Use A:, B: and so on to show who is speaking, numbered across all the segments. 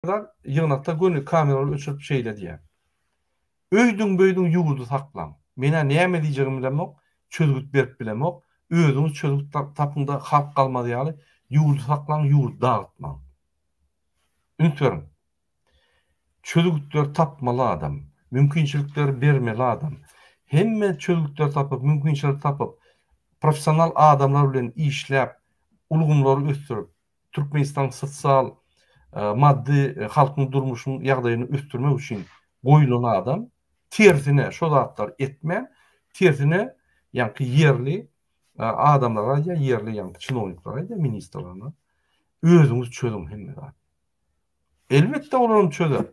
A: Ýaşlar ýygnakda göni kameralary öçürip şeýle diýýär, Öýdüň-böýdüň ýurdy saklaň. Men-ä näme diýjegimi bilemok, çözgüt berip bilemok. Özüňiz çözgüt tapyň-da halk galmaz ýaly ýurdy saklaň, ýurdy dagytmaň. Üns beriň! Çözgütleri tapmaly adam, mümkinçilikleri bermeli adam. Hemme çözgütleri tapyp, mümkinçileri tapyp, professional adamlar bilen işläp, ulgamlary ösdürip, Türkmenistanyň sosial, maddy, halkyň durmuşynyň ýagdaýyny ösdürmek üçin goýlan adam, tersine şo zatlary etmän, tersine ýaňky ýerli adamlara aýdýar, ýerli ýaňky çinowniklara aýdýar, ministrlerine, özüňiz çözüň hemme zady. Elbetde olaram çözer.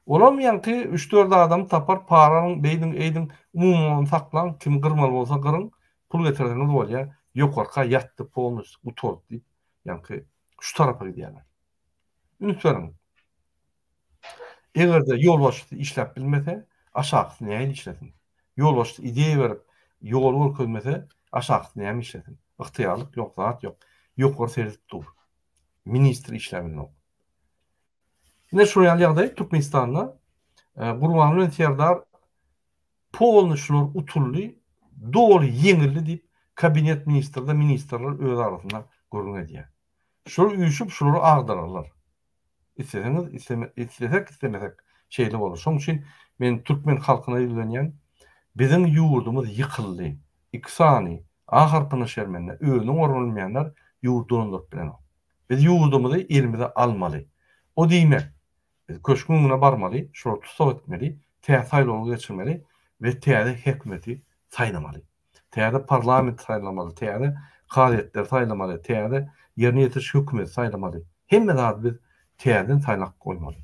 A: Olam ýaňky üç-dört adamy tapar para alyň beýdiň eýdiň umuman ony saklaň kim gyrmaly bolsa gyryň pul getirseňiz bolýa ýokarka ýatdy polnosty gutardy diýip ýaňky şu tarapa gidýärler. Üns beriň. Egerde ýolbaşçysy işläp bilmese aşakysy nähili işlesin. Ýolbaşçysy ideýa berip ýol görkezmese aşakysy näme işlesin. Ygtyýarlyk ýok zat ýok. Ýokary seredip dur. ministri işläp bilmok. Ine şol ýaly ýagdaý Türkmenistanda e, Gurban bilen Serdar polny şular utuldy, doly ýeňildi diýip kabinet ministrde ministrler öz arasynda gürrüň edýär. Şular üýşüp şulary agdararlar. Isleseňiz, isleme, islesek, islemesek şeýle bolar. Şoň üçin men türkmen halkyna ýüzlenýän. Biziň ýurdumyz ýykyldy. Iki sany Ahyrkyna şermende özüni orun bilmeýänler ýurdy dolandyryp bilenok. Biz ýurdumyzy elimize almaly. O diýmek, biz köşgüň öňüne barmaly, şolary tussag etmeli, tä saýlawlar geçirmeli we täze häkimiýeti saýlamaly. Täze parlamenti saýlamaly, täze kazyýetleri saýlamaly, täze ýerine ýetiriş hökümeti saýlamaly. Hemme zady biz täzeden saýlap goýmaly.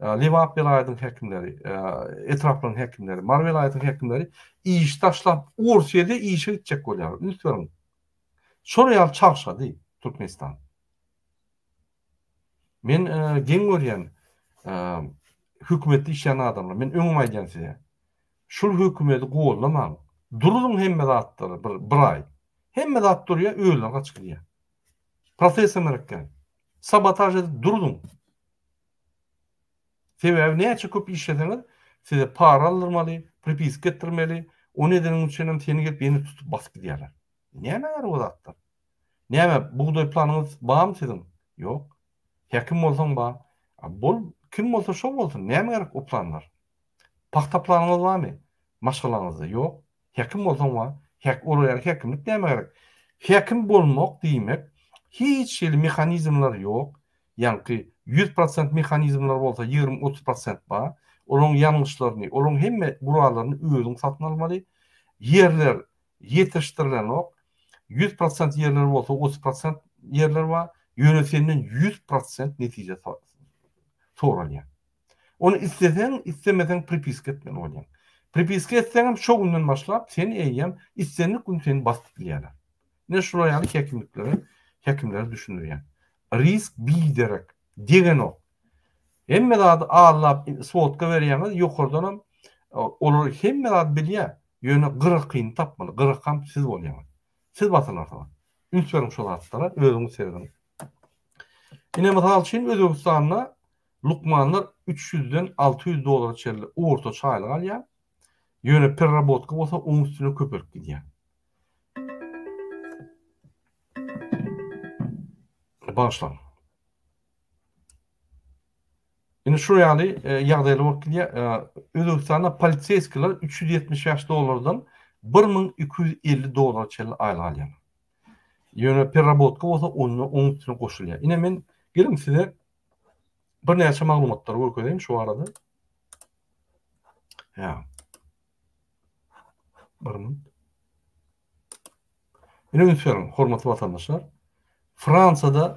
A: Lebap welaýatynyň häkimleri, etraplaryň häkimleri, Mary welaýatynyň häkimleri işi taşlap, Orsýede işe gitjek bolýarlar. Üns beriň. Şol ýaly çalşady Türkmenistan. Men geň görýän hökümetde işleýän adamlar, men öňem aýdýan size. Şul hökümeti gollamaň. Duruň hemme zatlary bir bir aý. Hemme zat durýar, özleri gaçyp gidýär. Protest hem erekden. Sabotaž edip duruň. Sebäbi näçe köp işleseňiz, size para aldyrmaly, pripiska etdirmeli, ony edeniň üçinem seni gelip ýene tutup basyp gidýärler. Näme bar bu zatda? Näme, bugdaý planyňyz barmy siziň? Ýok. Häkim bolsaň bar. A bol, kim bolsa şo bolsun, näme gerek o planlar? Pagta planyňyz barmy? Maşgalaňyzda ýok. Häkim bolsaň bar. Häk, olar ýaly häkimlik näme gerek? Häkim bolmak diýmek, hiç hili mehanizmler ýok, Ýaňky ýüz prosent mehanizmler bolsa ýigrimi-otuz prosent bar. Olaryň ýangyçlaryny, olaryň hemme gurallaryny özüň satyn almaly. Ýerler ýetişdirilenok. Ýüz prosent ýerler bolsa otuz prosent ýerler bar. Ýöne senden ýüz prosent netije soralýar. Ony isleseň, islemeseň pripiska etmeli bolýaň. Pripiska etseňem şo günden başlap seni eýýäm islendik gün seni basyp bilýärler. Men şular ýaly häkimliklere, häkimlere düşündirýän. Risk biderek degenok. Hemme zady allap sodka berýäňiz ýokardanam olar hemme zady bilýär ýöne gyrakyny tapmaly gyrakam siz bolýaňyz. Siz batylarsyňyz. Üns beriň şo zatlara özüňiz serediň. Ine mysal üçin Özbegistanda lukmanlar üç ýüzden alty ýüz dollara çenli ortaça aýlyk alýar. Ýöne perrabotka bolsa oň üstüne köpelip gidýär. Bagyşlaň. Indi şu ýaly e, ýagdaýlar bolup gidýär. E, Özbegistanda poliseýskiler 375 dollardan 1250 dollara çenli aýlyk alýar. Ýöne perrabotka bolsa onda oň üstüne goşulýar. Ine men geliň size birnäçe maglumatlary görkezeýin şu barada. Ýa. Bir minut. Ine üns beriň, hormatly watandaşlar. Fransiýada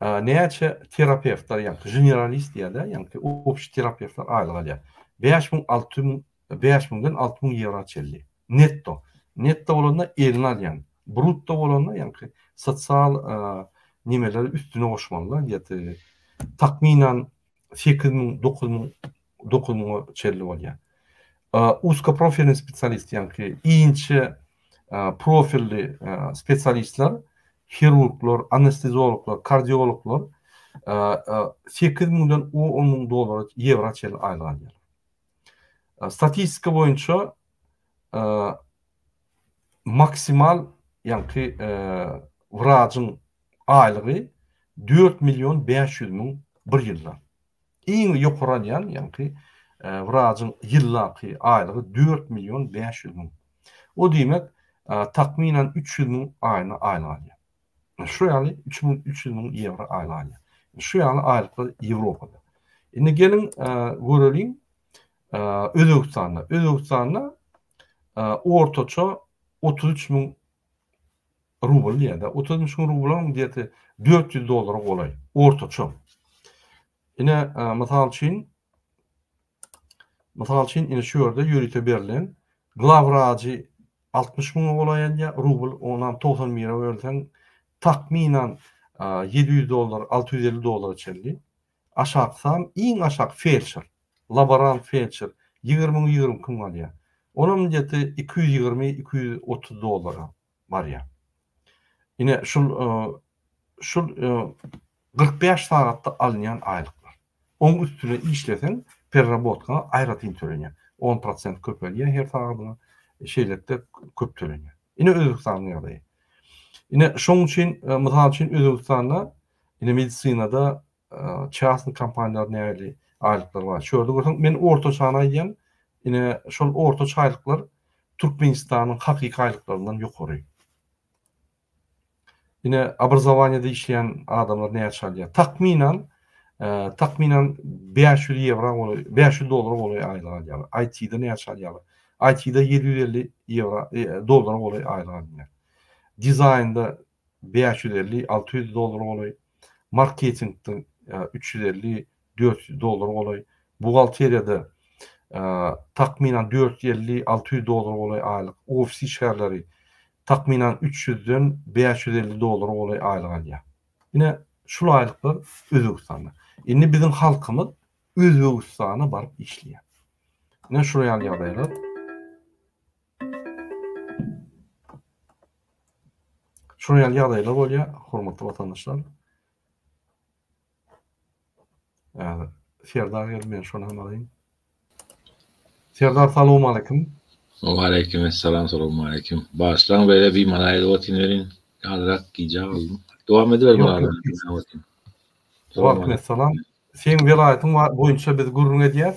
A: näçe terapewtler, ýa-da generalist diýýärler, ýa-da obşi terapewtler aýlyk alýar. 5000, 6000, 5000-den 6000 ýewro çenli. Netto. Netto bolanda eline alýan. Brutto bolanda, ýa-da sosial nimeleri üstüne goşmalylar, ýa-da takmynan sekiz müň, dokuz müň, dokuz müňe çenli bolýar. Uskoprofilni spesialist, ýaňky inçe profilli spesialistler, hirurglar, anestezologlar, kardiologlar sekiz müňden on müň dollara, ýewra çenli aýlyk alýarlar. Statistika boýunça maksimal, ýaňky wrajyň aýlygy dört million bäş ýüz müň bir ýylda. Iň ýokaralýan, ýaňky wrajyň ýyllaky aýlygy dört million bäş ýüz müň. O diýmek, takmynan üç ýüz müň aýna aýlyk alýar. Şu ýaly üç müň üç ýüz müň ýewro aýlyk alýar. Şu ýaly aýlyklar Ýewropada. Indi geliň göreliň, Özbegistanda, Özbegistanda ortaça otuz üç müň rubl diýýär-de, otuz üç müň rublyň diýeti dört ýüz dollara golaý, ortaça. Ine, mysal üçin, mysal üçin, ine şu ýerde ýörite berlen glawwrajy altmyş müňe golaý edýär, rubl, onam togsan bire bölseň, takmynan ýedi ýüz dollar, alty ýüz elli dollara çenli. Aşak san, iň aşak feldşer, laborant feldşer ýigrimi müň, ýigrimi iki müň alýar. Onam gdeti iki ýüz ýigrimi, iki ýüz otuz dollara barýar. Ine, şul, şul kyrk bäş sagatda alynýan aýlyklar. Oň üstüne işleseň, perrabotkaňa aýratyn tölenýär. On prosent köpelýär her sagadyňa, şeýlelikde köp tölenýär. Ine, Özbegistanyň ýagdaýy. Ine, şoň üçin, mysal üçin, Özbegistanda Ine medisinada çasny kompaniýalar nähili aýlyklar bar. Şu ýerde görseň men ortaçany aýdýan. Ine şol ortaça aýlyklar Türkmenistanyň hakyky aýlyklaryndan ýokary. Ine obrazowaniýada işleýän adamlar näçe alýar? Takmynan takmynan bäş ýüz ýewro bolup bäş ýüz dollara golaý aýlyk alýarlar. IT-de näçe alýarlar? IT-de ýedi ýüz elli ýewro dollara golaý aýlyk alynýar. Dizaýnda bäş ýüz elli, alty ýüz dollar golaý, marketingde üç ýüz elli, dört ýüz dollar golaý, buhgalteriýada takmynan dört ýüz elli, alty ýüz dollar golaý aýlyk, ofis işgärleri takmynan üç ýüzden bäş ýüz elli dollar golaý aýlyk alýar. Ine, şul aýlyklar Özbegistanda. Indi biziň halkymyz Özbegistana baryp işleýär. Ine, şular ýaly ýagdaýlar. Şunuň ýaly ýagdaýlar bolýar, hormatly watandaşlar. Häzir Serdar geldi, men şony hem alaýyn. Serdar salowmaleýkim. Waleýkim essalam,
B: salowmaleýkim. Bagyşlaň beýle bimala aýdyp otyryn welin, azrak gijä galdym. Dowam ediber Murad. Waleýkim
A: essalam. Seň welaýatyň boýunça biz gürrüň edýäs.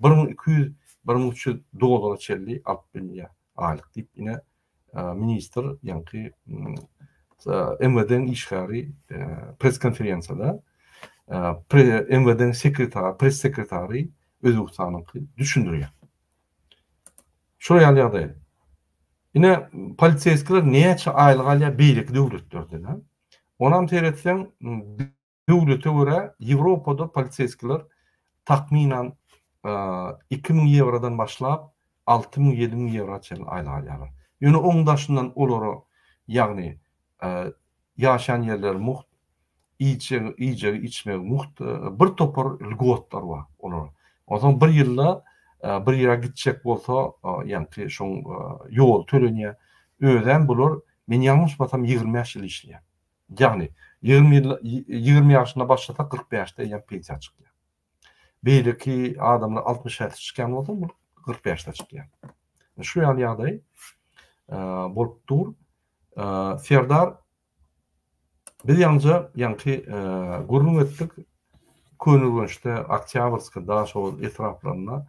A: bir müň iki ýüz, bir müň üç ýüz dollara çenli alyp bilýär aýlyk diýip, ine, ministr ýaňky MWD-niň işgäri press-konferensiýada MWD-niň sekretary, press-sekretary Özbegistanyňky düşündirýär. Şular ýaly ýagdaý. Ine, poliseskiler näçe aýlyk alýar beýleki döwletlerden? Onam seretseň, Döwlete görä, Ýewropada poliseskiler takmynan iki müň ýewrodan başlap, alty müň, ýedi müň ýewra çenli aýlyk alýarlar. Ýöne oň daşyndan olara, ýagny ýaşaýan ýerleri mugt, iýjegi, içmegi mugt, bir topar lgotlar bar olara. Onsoň bir ýylda bir ýere gitjek bolsa, ýaňky şoň ýoly tölenýär. Özem bular, men ýalňyşmasam ýigrimi bäş ýyl işleýär. Ýagny, ýigrimi ýaşynda başlasa, kyrk bäşde eýýäm pensiýa çykýar. Beýleki adamlar altmyş bäşde çykýan bolsa, bu kyrk bäşde çykýar. Şu ýaly ýagdaý bolup dur. Serdar biz ýaňja ýaňky gürrüň etdik. Köneürgençde, Oktýabrskda, şol etraplarynda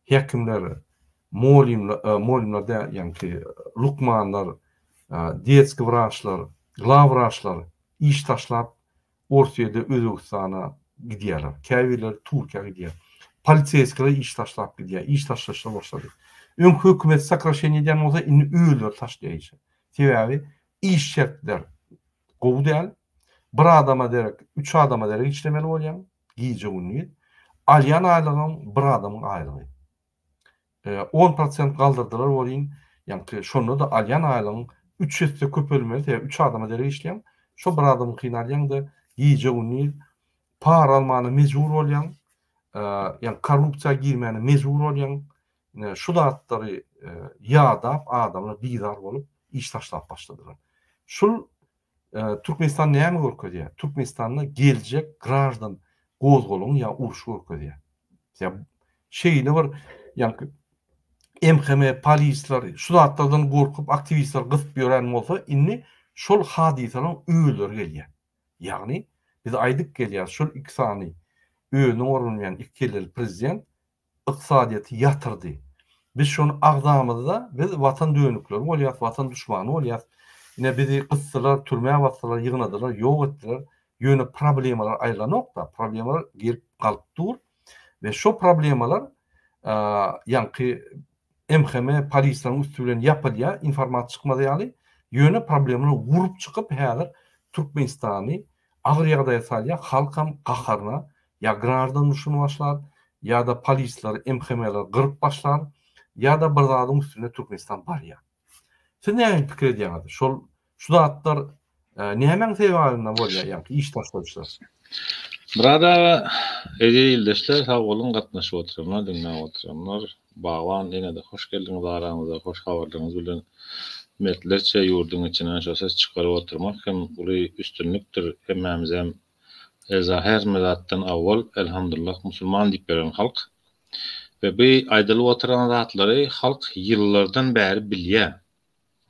A: häkimler Molymlar, molymlar däl, ýaňky lukmanlar, detskiý wraçlar, glawwraçlar iş taşlap, Orsýede, Özbegistana gidýärler. Käbirleri Türkiýä gidýär. Poliseýskiler iş taşlap gidýär. Iş taşlaşlar başlady. Öňki hökümet sokraşeniýa edýän bolsa, indi özleri taşlaýar işi. Sebäbi iş şertler gowy däl. Bir adama derek, üç adama derek işlemeli bolýaň, gije-gündiz. Alýan aýlygyň bir adamyň aýlygy. on prosent galdyrdylar welin, ýaňky şonda-da alýan aýlygyň üç esse köpelmeli, sebäbi üç adama derek işleýäň, şo bir adamyňkyny alýaň-da, gije-gündiz para almana mejbur bolýaň, ýaňky korrupsiýa girmäne mejbur bolýaň, ine, şu zatlary ýadap, adamlar bizar bolup, iş taşlap başladylar. Şul Türkmenistan näme görkezýär? Türkmenistanda geljek graždan gozgalaň ýa uruş görkezýär. Ýa şeýle bir ýaňky MHM polisler şu zatlardan gorkup aktiwistler gysyp ýören bolsa indi şol hadysalar özleri gelýär. Ýagny biz aýdyp gelýär şol iki sany özüne orunmaýan iki kelleli prezident ykdysadyýeti ýatyrdy. Biz şony agzamyzda, biz watan dönükleri bolýas, watan duşmany bolýas. Ine bizi gysdylar, türmä basdylar, ýygnadylar, ýok etdiler. Ýöne problemalar aýylanok-da, problemalar gelip galyp dur we şo problemalar ýaňky MHM polislaň üsti bilen ýapylýa informat çykmaz ýaly ýöne problemany gurup çykyp häzir Türkmenistany agyr ýagdaýa salýa halkam gaharyna ýa graždan urşuny başlar ýada polislary MHMler gyryp başlar ýada bir zadyň üstüne Türkmenistan barýar. Siz näme pikir edýäňiz? Şol şu zatlar nämäň sebäbinden bolýar ýa-da iş taşlaýyşlar? Murad
B: aga, eziz ildeşler, sag boluň, gatnaşyp oturanlar, diňläp oturanlar. Bagban ene-de hoş geldiňiz aramyza, hoş habarlaryňyz bilen. Mertlerçe ýurduň içinden şo ses çykaryp oturmak hem uly üstünlikdir. Hemmämizem Eza hernime zatdan awwal Elhamdullah musulman diýip beren halk we bu aýdylyp oturan zatlary halk ýyllardan bäri bilýä.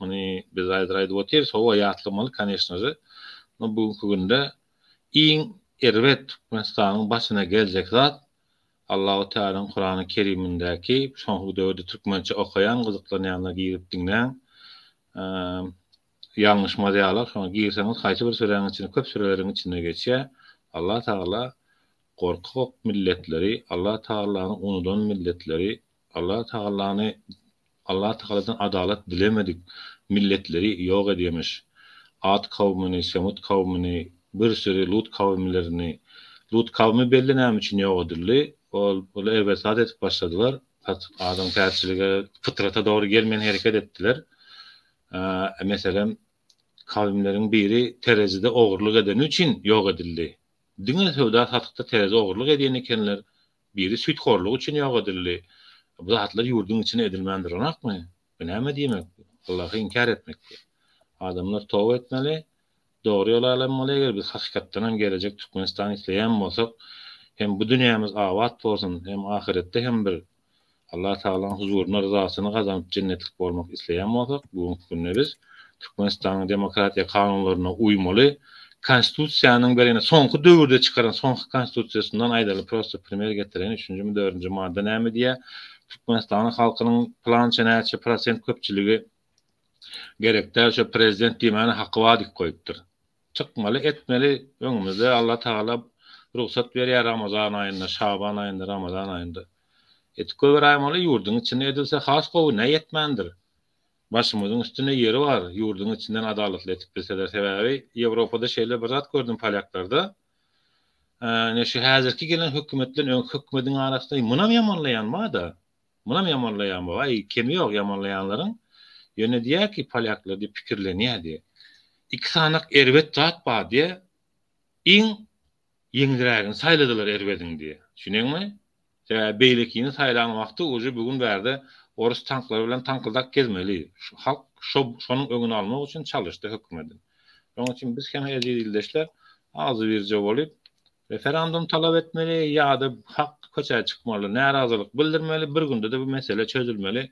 B: Muny biz haýzir aýdyp otyrys howa ýatlamaly koneşnože no bu günki günde iň erbet Türkmenistanyň başyna geljek zat Allahu Tealanyň Kurany Kerimindäki şonky döwürde türkmençe okaýan gyzyklanýanlar girip diňläň Ýalňyş maziýalar şoňa girseňiz haýsy bir süräň içine köp süreleriň içinde geçýä Allah Tagala gorkak milletleri Allah Tagalany unudan milletleri Allah Tagalany Allah Tagaladan adalat dilemedik milletleri ýok edýemiş At kawmyny Semut kawmyny bir süri Lut kawimlerini Lut kawmy belli näme üçin ýok edildi ol ol erbet zat edip başladylar adamkärçilige pytrata dogry gelmeýän hereket etdiler Meselem, kawimleriň biri terezide ogurlyk edeni üçin ýok edildi. Diňe söwda-satykda terezide ogurlyk edýän ekenler. Biri süýthorlygy üçin ýok edildi. Bu zatlar ýurduň içinde edilmän duranokmy? Bu näme diýmek? Allahy inkär etmek bu. Adamlar toba etmeli, Dogry ýoly alanmaly eger biz hakykatdanam gelejek Türkmenistany isleýän bolsak hem bu dünýämiz abat bolsun hem ahyretde hem bir Allah Tagalaň huzuryna ryzasyny gazanyp jennetlik bolmak isleýän bolsak bu günki günde biz Türkmenistanyň demokratiýa kanunlaryna uýmaly konstitusiýanyň bereýne soňky döwürde çykaran soňky konstitusiýasyndan aýdaly prosta primer getireýin üçünjimi dördünji madda näme diýýär Türkmenistanyň halkynyň plança näçe prosent köpçüligi Gerek däl şo prezident diýmäne haky bar diyip goýupdyr. Çykmaly etmeli öňümizde Alla tagala rugsat berýär ramazan aýynda şaban aýynda ramazan aýynda edip goýberäýmeli ýurdyň içinde edilse has gowy näe etmändir başymyzyň üstünde ýeri bar ýurdyň içinden adalatly edip bilseler sebäbi ýewropada şeýle bir zat gördüm polýaklarda ine şu häzirki gelen hökümetden öňki hökmediň arasynda munam ýamanlaýan barda Munam ýamanlaýan bu aý kemi ýok ýamanlaýanlaryň ýöne diýýär ki polýaklar diýip pikirlenýär diýýär. Iki sanak erbet zat bar diýýär iň ýeňilrägini saýladylar erbediň diýýär düşüneňmi sebäbi beýlekini saýlan wagty uje bu gün bärde orus tanklary bilen taňkyldak gezmeli şu halk şo şonuň öňüni almak üçin çalyşdy hökümetin şonuň üçin biz hem eziz ildeşler agzybirje bolup Referendum talap etmeli ýa-da hak köçä çykmaly, närazylyk bildirmeli, bir günde-de bu mesele çözülmeli.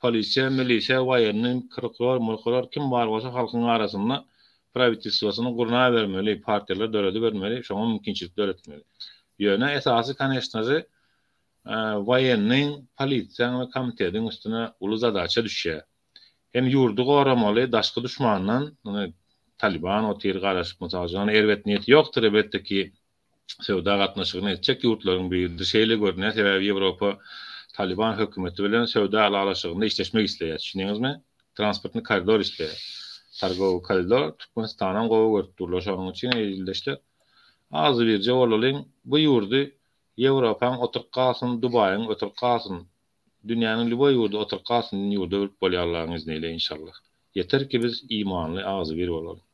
B: Polisiýa, milisiýa, waýenni, prokuror, murkuror kim bar bolsa halkyň arasynda prawitelstwosyny gurnabermeli, partiýalar döredibermeli, şoňa mümkinçilik döretmeli. Ýöne esasy koneşnaže waýenniň, polisiýaň we komitetiň üstüne uly zadaça düşýär. Hem ýurdy goramaly daşky duşmandan, muny Talyban otyr garaşyp mysal üçin, ony erbet niýeti ýokdyr elbetde ki söwda gatnaşygyny etjek ýurtlaryň biridir şeýle görünýär sebäbi Ýewropa Talyban hökümeti bilen söwda ylalaşygynda işleşmek isleýär düşündiňizmi transportny koridor isleýär targowy koridor Türkmenistanam gowy görüp durlar şonuň üçin eziz ildeşler azy birje bolalyň bu ýurdy Ýewropaň oturyp galsyn Dubaýyň oturyp galsyn Dünýäniň lýuboý ýurdy oturyp galsyn din ýurda öwrüp bolýar Allaň izniyle inşallah. Ýeter ki biz imanly agzybir bolalyň.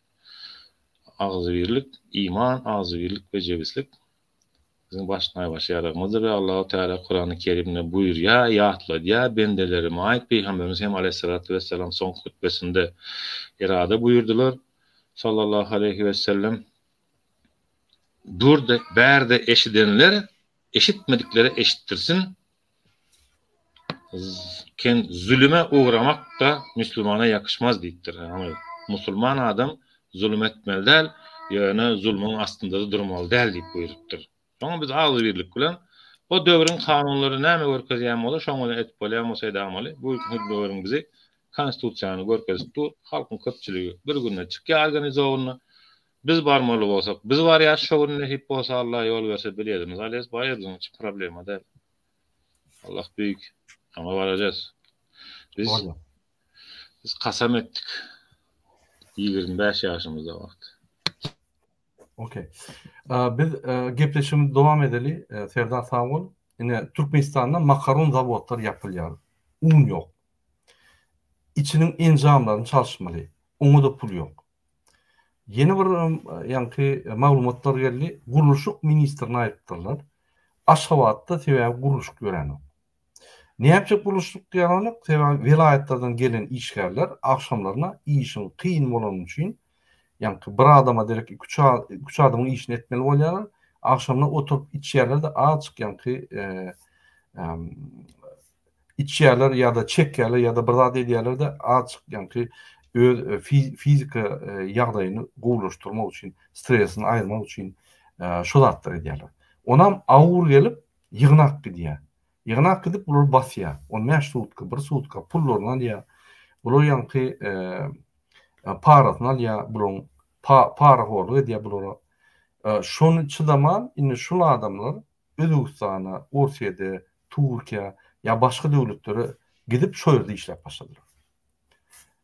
B: Agzybirlik iman agzybirlik we jebislik biziň baş naýbaşy ýaragymyzdyr we Allahu Teala Kurany Kerimde buýurýa ýatladýa bendeleri maýyp Pygamberimiz hem Aleýhissalatu wessalam soňky hutbesinde irada buýurdylar Sallallahu Aleýhi wessellem Bürde bärde eşidenler eşitmediklere eşitdirsin Ken zulüme ugramak-da musulmana ýakýşmaz diýipdir. Ýagny musulman adam zulum etmeli däl, ýöne zulmyň astynda-da durmaly däl diýip buýrupdyr. Şoňa biz agzybirlik bilen o döwrüň kanunlary näme görkezýän bolsa şoňa-da edip bolýan bolsa edamaly. Bu günki döwrüň bizi konstitusiýany görkezip dur. Halkyň köpçüligi bir günde çykýar organizowanyna. Biz barmaly bolsak, biz barýas şo gün nesip bolsa Allah ýol berse biletimiz alýas baýardyň hiç problema däl. Allah büýük. Şoňa barajas. Biz Biz kasam etdik. 25 ýaşymyzda wagt.
A: Okey. Biz gepleşigimizi dowam edeli. Serdar sag bol. Ine Türkmenistanda makaron zawodlar ýapylýar. Un ýok. Içiniň enjamlaryny çalyşmaly. Oňa-da pul ýok. Ýene bir ýaňky maglumatlar geldi. Gurluşyk ministrini aýypdyrlar. Aşgabatda sebäbi gurluşyk ýöränok. Näme üçin gurluşyk ýörenok? Sebäbi welaýatlardan gelen işgärler agşamlaryna işiň kyn bolany üçin, ýaňky bir adama derek iki-üç iki-üç adamyň işini etmeli bolýarlar. Agşamlar oturyp içýärler-de, azjyk ýaňky içýärler ýa-da çekýärler ýa-da bir zat edýärler-de azjyk ýaňky öz fiziki ýagdaýyny gowulaşdyrmak üçin, stresini aýyrmak üçin şo zatlary edýärler. Onam awur gelip ýygnak gidýär. Ýygnak gidip bulary basýar. On bäş sutka, bir sutka pullaryny alýar. Bular ýaňky parasyny alýar, bularyň parahorlyk edýär bulara. Şony çydaman indi şul adamlar Özbegistana, Orsýede, Türkiýä ýa başga döwletlere gidip şo ýerde işläp başladylar.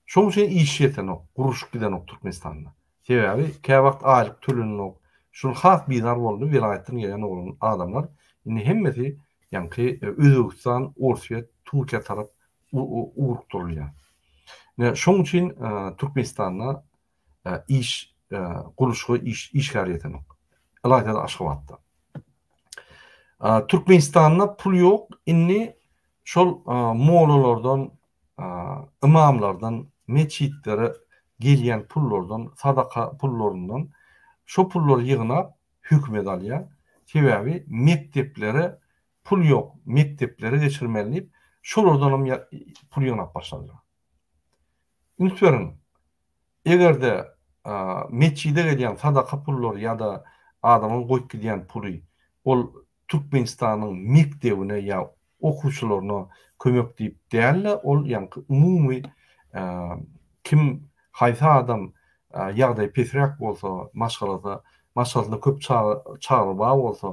A: Şoň üçin iş ýetenok, gurluşyk gidenok Türkmenistanda. Sebäbi käwagt aýlyk tölenenok. Şol has bizar boldy welaýatdan gelen oglan adamlar indi hemmesi ýaňky Özbegistan, Orsýet, Türkiýä tarap ugrukdyrylýar. Ine şoň üçin Türkmenistanda iş gurluşyga iş işgär ýetenok. Ylaýta-da Aşgabatda. Türkmenistanda pul ýok, indi şol mollalardan, ymamlardan, metjitlere gelýän pullardan, sadaka pullaryndan şo pullary ýygnap hökümet alýar. Sebäbi mekdeplere pul ýok, mekdeplere geçirmeli diýip, şolardan hem pul ýygnap başladylar. Üns beriň, eger-de metjide gelýän sadaka pullary ýa-da adamyň goýup gidýän puly ol Türkmenistanyň mekdebine ýa okuwçylaryna kömek diýip däl-de, ol ýaňky umumy kim, haýsy adam ýagdaýy pesräk bolsa, maşgalada Maşgalasynda köp çaga, çagry bar bolsa,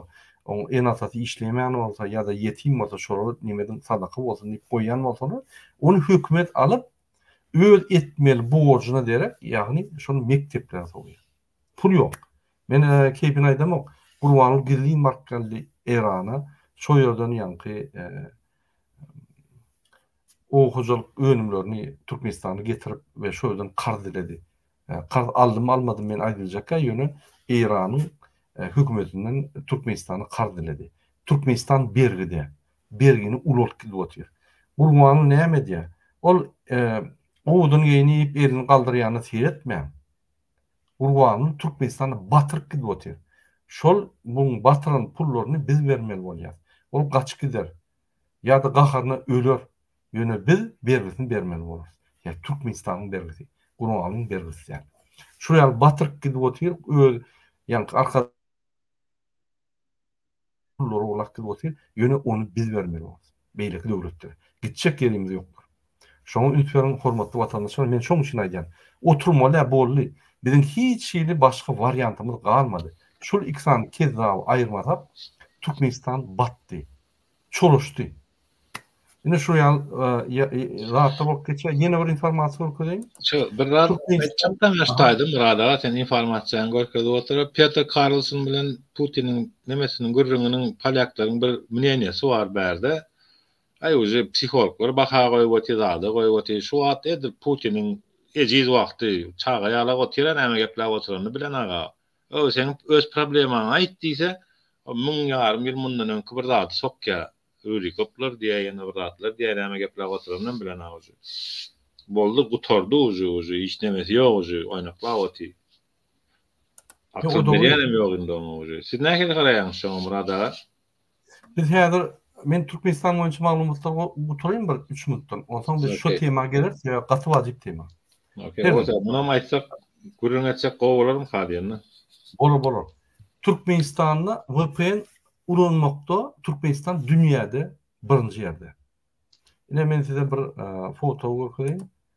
A: oň ene-atasy işleýmän bolsa ýa-da ýetim bolsa şolara neme ediň sadaka bolsun diýip goýýan bolsalar, ony hökümet alyp, öz etmeli borjuna derek, ýagny şony mekdeplere sowýar. Pul ýok. Men keýpini aýdamok. Gurbanguly gizlin baryp geldi Erana. Şo ýerden ýaňky oba hojalyk önümlerini Türkmenistana getirip we şo ýerden karz diledi. Karz aldym almadym men aýdyljak-a ýöne Eýranyň hökümetinden Türkmenistana karz diledi. Türkmenistan bergide. Bergini ulaltdy diýip otyr. Gurbanguly näme edýär? Ol oduny geýni iýip elini galdyrýanyna seretmäň. Gurbanguly Türkmenistana batyryp gidip otyr. Şol muň batyran pullaryny biz bermeli bolýar. Ol gaçyp gider. Ýa-da gaharyna öler. Ýöne biz bergisini bermeli bolarys. Ýa Türkmenistanyň bergisi, guralyň bergisi däl. Şular ýaly batyryk gidip otyr, öz ýaňky arka pullary urlap gidip otyr, ýöne ony biz bermeli bolarys, beýleki döwletlere. Gitjek ýerimiz ýokdur. Şoňa üns beriň, hormatly watandaşlar, men şoň üçin aýdýan. Oturmaly-ä, boldy. Biziň hiç hili başga wariantymyz galmady. Şul iki sany kezzaby aýyrmasak, Türkmenistan batdy. Çalyşdy. Ine şu ýaly zatlar bolup geçýär. Ýene bir informasiýa görkezeýin. Şu bir zat
B: aýtjakdan başdaýdym
A: Myrat
B: aga sen informasiýany görkezip oturup Petr Karlson bilen Putiniň nemesiniň gürrüňiniň polýaklaryň bir mneniýesi bar bärde. Aý uje psihologlar baha goýup otyr zada goýup otyr şu wagt edil Putiniň ejiz wagty çaga ýalak otyra näme gepläp oturanyny bilen aga. Ol seň öz problemaňy aýt diýse, o müň ýarym ýyl mundan öňki bir zady sokýar. Rurikoplar diýýär, ýene bir zatlar diýýär, näme gepläp oturanynam bilenok uje. Boldy, gutardy uje, uje hiç nemesi ýok uje, oýnaklap otyr. Akyl berýänem ýok indi oňa uje. Siz nähili garaýaňyz şoňa Murad aga? Biz
A: häzir men Türkmenistan boýunça maglumatlary guturaýyn bir 3 minutdan. Onsoň biz şu tema geleris, sebäbi gaty wajyp tema. Okey, bolsa
B: munam aýtsak, gürrüň etjek gowy bolarmy hadýanda? Bolar, bolar.
A: Türkmenistanda VPN ulanmakda Türkmenistan dünýäde birinji ýerde. Ine men size bir foto görkezýän.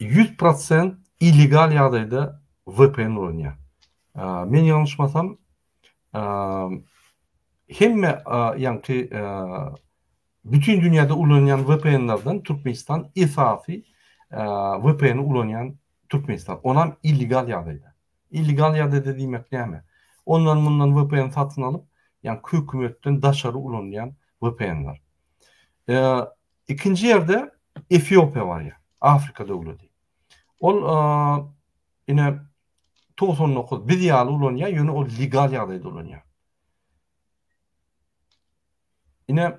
A: ýüz prosent illegal ýagdaýda VPN ulanýar. Men ýalňyşmasam, hemme ýaňky bütin dünýäde ulanýan VPN-lerden Türkmenistan esasy VPN-i ulanýan Türkmenistan. Onam illegal ýagdaýda. Illegal ýagdaýda diýmek näme? Ondan mundan VPN satyn alyp, ýaňky hökümetden daşary ulanýan VPN-ler. Ikinji ýerde Efiopiýa barýar. Afrika döwleti. Ol ine 99 biz ýaly ulanýar, ýöne ol legal ýagdaýda ulanýar. Ine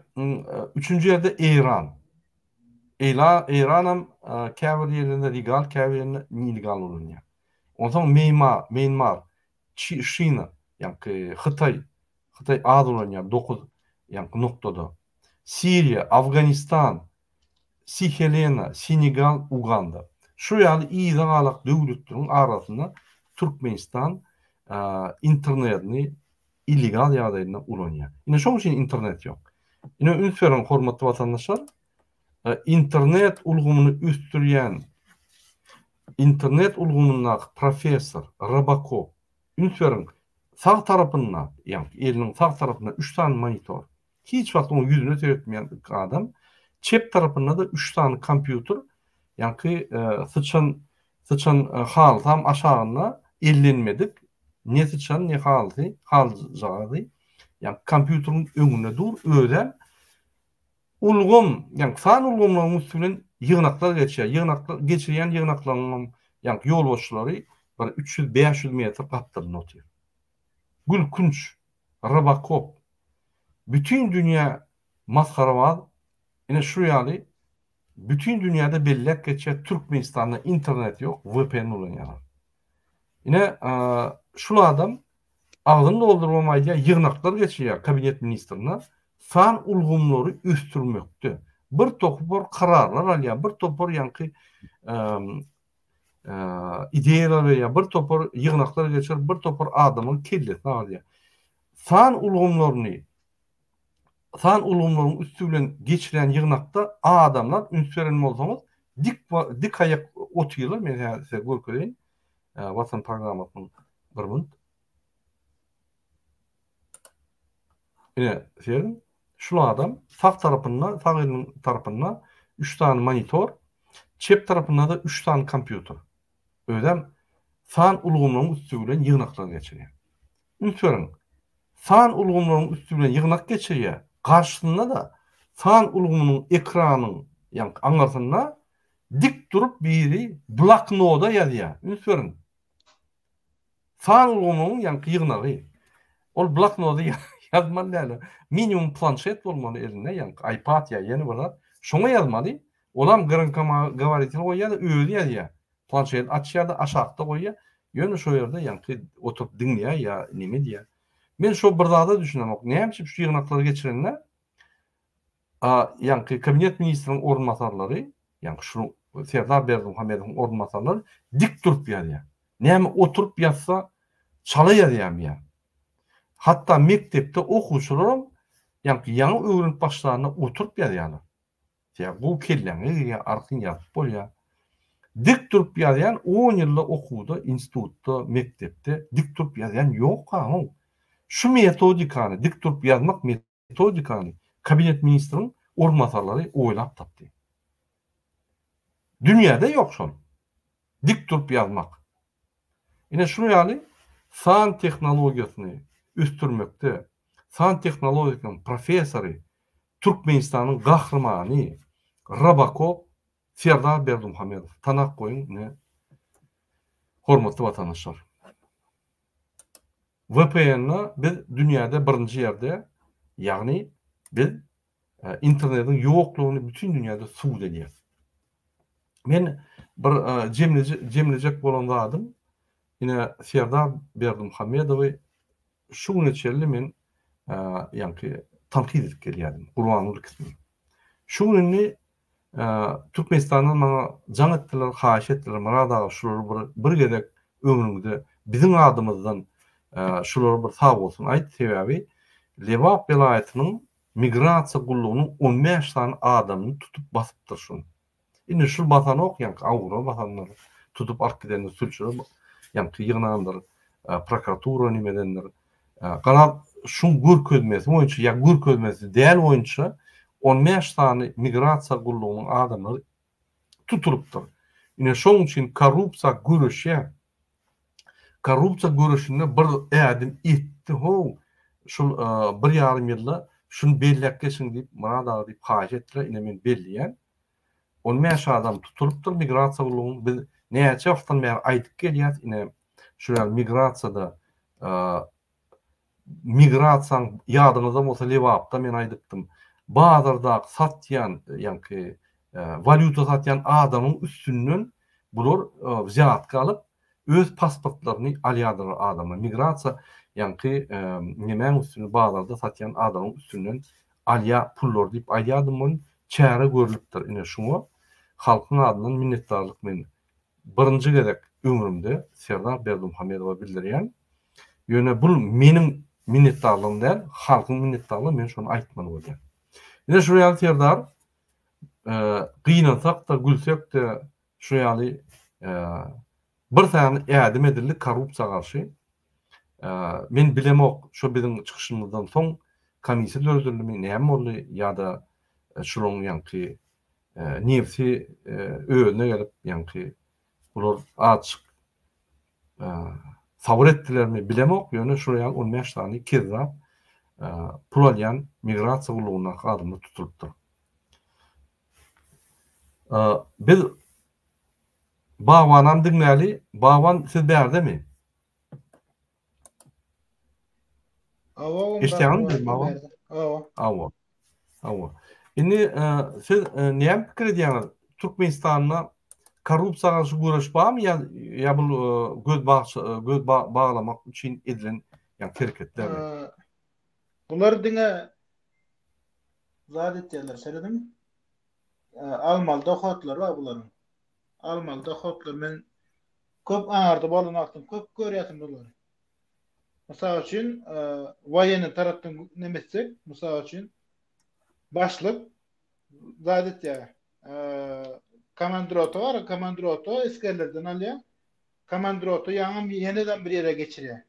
A: üçünji ýerde Eýran. Eýla Eýran hem käbir ýerlerinde legal, käbir ýerinde nelegal ulanýar. Onsoň Meýma, Meýnmar. Şina, ýaňky Hytaý, Hytaý az ulanýar, dokuz ýaňky noktada. Siriýa, Afganistan, Si-Helena, Senegal, Uganda. Şu ýaly yzagalak döwletleriň arasynda Türkmenistan internetini illegal ýagdaýynda ulanýar. Ine şoň üçin internet ýok. Ine üns beriň hormatly watandaşlar, internet ulgamyny ösdürýän Internet ulgamyndaky professor, Robocop. Üns beriň, sag tarapynda, ýagny eliniň sag tarapynda üç sany monitor. Hiç wagt oň ýüzüne seretmeýän ilki adam. Çep tarapynda-da üç sany kompýuter, ýagny syçan, syçan halysam aşagynda ellenmedik, ne syçan, ne halysy, halyjagazy. Ýagny kompýuteriň öňünde dur, özem Ulgam, ýaňky san ulgamlaryň üsti bilen ýygnaklar geçýär. Ýygnaklar, geçirýän ýygnaklaryň hem, ýaňky ýolbaşçylary bir üç ýüz, bäş ýüz metr gapdalynda otyr. Gülkünç, Robokop, bütin dünýä masgarabaz, ine şu ýaly bütin dünýäde belläp geçýär, Türkmenistanda internet ýok, vpn ulanýarlar. Ine, şul adam Agzyny doldurybam aýdýar, ýygnaklar geçirýär kabinet ministrine, san ulgamlary ösdürmekde bir topar kararlar alýar, bir topar ýaňky ideýalar berýär, bir topar ýygnaklar geçirip, bir topar adamyň kellesini agardýar. San ulgamlaryny, san ulgamlaryň üsti bilen geçirýän ýygnakda adamlar üns beren bolsaňyz, dik dik aýak otyrlar, men häzir size görkezeýin. Watson programmasynyň bir münt. Ine, seýrediň. Şul adam sag tarapynda, sag eliniň tarapynda üç sany monitor, çep tarapynda-da üç sany kompýuter. Özem san ulgamlaryň üsti bilen ýygnaklar geçirýär. Üns beriň, san ulgamlaryň üsti bilen ýygnak geçirýär, garşysynda-da san ulgamynyň ekranyň, ýagny aňyrsynda Dik durup biri bloknoda ýazýar. Üns beriň. San ulgamynyň ýaňky ýygnagy. Ol bloknoda ýazmaly däl. Minimum planşet bolmaly elinde, ýaňky iPad ýa ýene bir zat. Şoňa ýazmaly. Olam gromkogovoritelý goýýar-da, özi ýazýar. Planşeti açýar-da, aşakda goýýar. Ýöne şo ýerde ýaňky oturyp diňleýär ýa neme edýär. Men şo bir zada düşünemok. Näme üçin şu ýygnaklary geçirende A. Ýaňky Kabinet ministriniň orunbasarlary, ýaňky şu Serdar Berdimuhamedowyň orunbasarlary dik durup ýazýar. Näme oturyp ýazsa, çala ýazýarmy ýa? Hatda mekdepde okuwçylaram ýaňky ýaňy öwrenip başlanda oturyp ýazýarlar. Sebäbi gowy kelläňe girýär, artyn ýazyp bolýar. Dik durup ýazýan on ýylda okuwda, institutda, mekdepde dik durup ýazýan ýok-a-how. Şu metodikany, dik durup ýazmak Metodikany kabinet ministriň orunbasarlary oýlap tapdy. Dünýäde ýok şol. Dik durup ýazmak. Ine şu ýaly san tehnologiýasyny ösdürmekde san tehnologikaň professory Türkmenistanyň gahrymany Robokop Serdar Berdimuhamedow tanap goýuň ine hormatly watandaşlar. VPN-a biz dünýäde birinji ýerde, ýagny biz internetiň ýoklugyny bütin dünýäde subut edýäris. Men bir jemlejek bolan zadym, ine Serdar Berdimuhamedowy şu güne çenli men ýaňky tankyt edip gelýärdim, Gurbanguly Kisiň. Şu gün indi Türkmenistandan maňa jaň etdiler, haýyş etdiler, Myrat aga şulary bir bir gezek ömrüňde biziň adymyzdan şulara bir sag bolsun aýt, sebäbi Lebap welaýatynyň migrasiýa gullugynyň on bäş sany adamyny tutup basypdyr şuny. Indi şul basanok ýaňky awgura basanlar tutup alyp gidendir sülçüler ýaňky ýygnandyr prokuratura nimedendir. Galan şuň görkezmesi boýunça ýa görkezmesi däl boýunça on bäş sany migrasiýa gullugynyň adamlary tutulypdyr. Ine şoň üçin korrupsiýa göreşýär. Korrupsiýa göreşinde bir ädim etdi how, şul bir ýarym ýylda şuny belläp geçiň diýip Murad aga diýip haýyş etdiler, ine men belleýän. On bäş adam tutulypdyr migrasiýa gullugyň biz näçe wagtdan bäri aýdyp gelýäs ine şular ýaly migrasiýada migrasiýaň ýadyňyzda bolsa lebapda men aýdypdym bazardaky satýan ýaňky walýuta satýan adamyň üstünden bular wzýatka alyp Öz pasportlaryny alýadylar adamlar migrasiýa ýaňky nemäň üstünde bazarda satýan adamyň üstünden alýa pullary diýip aýdýadym welin çäre görlüpdir ine şuňa halkyň adyndan minnetdarlyk men birinji gezek ömrümde Serdar Berdimuhamedowa bildirýän ýöne bul meniň minnetdarlygym däl halkyň minnetdarlygy men şony aýtmaly bolýan ine şuňa ýaly Serdar gynansakda gülsekde Şu ýaly bir sany ädim edildi korrupsiýa garşy. Men bilemok, şu biziň çykyşymyzdan soň komissiýa döredildimi, näme boldy ýa-da şularyň ýaňky nebsi özüne gelip, ýaňky bular azajyk sabyr etdilermi, bilemok, ýöne şu ýaly on bäş sany kezzap pul alýan migrasiýa gullugyndaky adamlar tutulypdyr. Biz Babanam diňläli, Baban siz bärdemi? Hawa oň Eşdýäňizmi biziň Baban? Hawa. Hawa. Hawa. Indi siz näme pikir edýäňiz? Türkmenistanda korrupsiýa garşy göreş barmy ýa ýa bu göz göz baglamak üçin edilen ýa hereketlermi?
C: Bular diňe zat etýärler, serediň. Almaly dohotlary bar bularyň. Almaly dohotlar men köp aňarda bolan wagtym köp görýärdim bulary. Mysal üçin, waýenni tarapdan näme etsek, mysal üçin, başlyk zat etýär. Komandrota bar, komandrota esgerlerden alýar. Komandrota ýaňam ýene-de bir ýere geçirýär.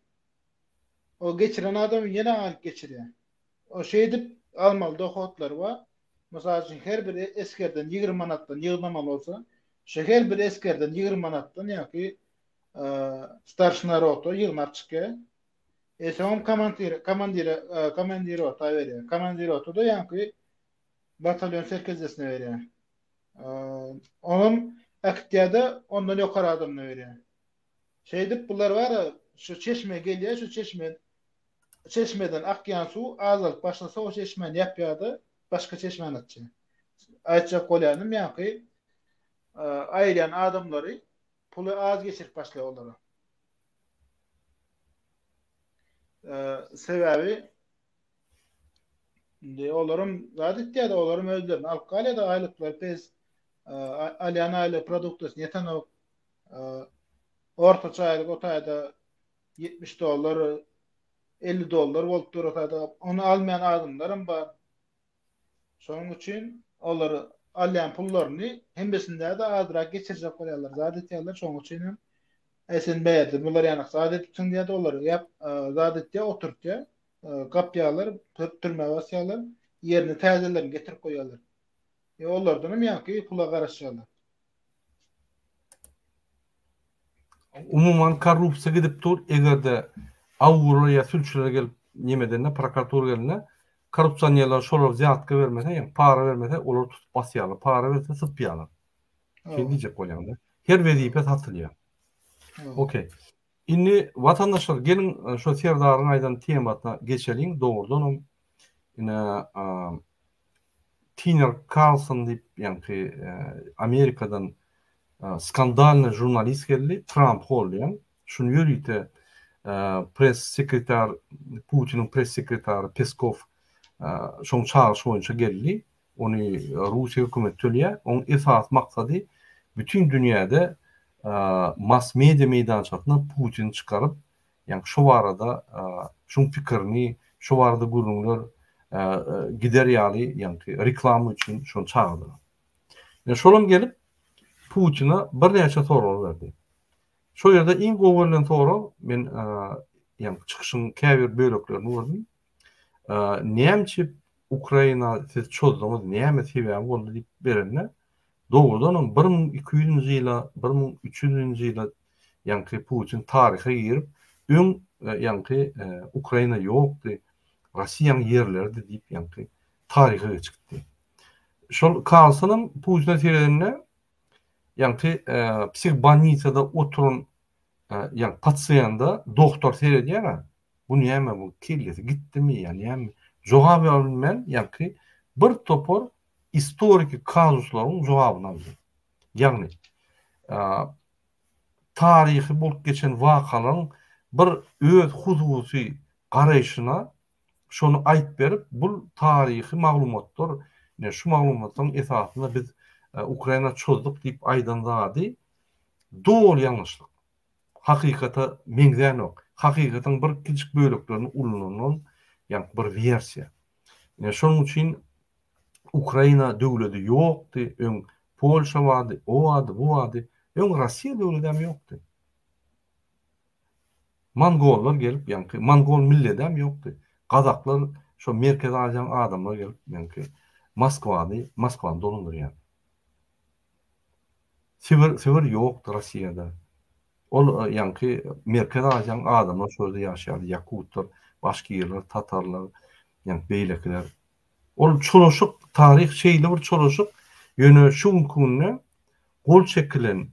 C: Ol geçiren adamy ýene alyp geçirýär. Ol şeýdip almaly dohotlary bar. Mysal üçin her bir esgerden ýigrimi manatdan ýygnamaly bolsa, şu her bir esgerden ýigrimi manatdan ýaňky starşina rota ýygnap çykýar. E soňam komantire komandire komandirota berýär. Komandirota-da ýaňky batalýon serkezdesine berýär. Onam aktiýada ondan ýokary adamyna berýär. Şeýdip, bular bar-a, şu çeşmä gelýär, şu çeşme, çeşmeden akýan suw azalyp başlasa, o çeşmäni ýapýar-da, başga çeşmäni açýar. Aýtjak bolýanym, ýaňky aýyrýan adamlary puly az geçirip başlaýar olara. Sebäbi indi olaram zat etýär-de, olaram özlerini alyp galýar-da, aýlyklary pes, alýan aýlyk produktasyny ýetenok, Ortaça aýlyk o taýda 70 dollar, 50 dollar bolup dur o taýda. Ony almaýan adamlar hem bar. Şonuň üçin olar alýan pullaryny hemmesinde-de azrak geçirjek bolýarlar. Zat etýärler, şonuň üçin hem Äý sen bärde bular ýanyk zat edipsiň diýýär-de olar. Ýa zat etýär, oturtýar. Gapýarlar, türmä basýarlar. Ýerine täzelerini getirip goýýarlar. Ýa olardan hem ýaňky pula garaşýarlar.
A: Umuman korrupsiýa gidip dur, eger-de awgurlar ýa sülçüler gelip neme edende, prokuratura gelende, korrupsionerler şolar zýatka bermese, ýa para bermese, olary tutup basýarlar, para berse sypýarlar. Şeýle diýjek bolýaňda. Her wezipe satylýar. Okey. Indi watandaşlar geliň şo serdaryň aýdan temasyna geçeliň dogrudanam ine Tiner Karlson diýip ýaňky Amerikadan skandalnyý žurnalist geldi Tramp goldaýan şuny ýörite press sekretar Putiniň press sekretary Peskow şoň çagyryşy boýunça geldi ony Russiýa hökümeti tölýär. Oň esasy maksady bütin dünýäde mass media meýdançasyna Putini çykaryp, ýagny şu barada şuň pikirini, şu barada gürrüňler gider ýaly, ýagny reklama üçin şony çagyrdylar. Ýa şolam gelip Putine birnäçe sorag berdi. Şo ýerde iň gowy görlen sorag men ýagny çykyşyň käbir böleklerini gördüm. Näme üçin Ukraina siz çozduňyz, näme sebäbi boldy diýip berende, dogrudanam bir müň iki ýüzünji ýyla, bir müň üç ýüzünji ýyla ýaňky Putin taryha girip, öň ýaňky Ukraina ýokdy, Russiýanyň ýerleridi diýip ýaňky taryha geçip gitdi. Şol Karlsonam Putine seredende, ýaňky psihbanitsada oturan ýaňky pasiýanda doktor seredýär-ä, Bu näme bu kellesi gitdimi ýa näme jogap ýa bilmän ýaňky bir topar istoriki kazuslaryň jogabyny aldy. Ýagny taryhy bolup geçen wakalaryň bir öz hususy garaýşyna şony aýyp berip bul taryhy maglumatlar ine şu maglumatlaryň esasynda biz Ukraina çozduk diýip aýdan zady doly ýalňyşlyk. hakykata meňzänok. Hakykatyň bir kiçijik böleklerini ulanylan, ýagny bir wersiýa. Ine şonuň üçin Ukraina döwledi ýokdy, öň Polşa bardy, o bardy, bu bardy, öň Russiýa döwledi hem ýokdy. Mongollar gelip, ýagny mongol milleti hem ýokdy. Gazaklar şo Merkezi Aziýanyň adamlary gelip, ýagny Moskwany, Moskwany dolandyrýardy. Sibir sibir ýokdy Rossiýada. Ol ýaňky Merkezi Aziýanyň adamlar şu ýerde ýaşaýardy, ýakutlar, başgirler, tatarlar, ýaňky beýlekiler. Ol çolaşyk taryh şeýle bir çolaşyk, ýöne şu günki günde gol çekilen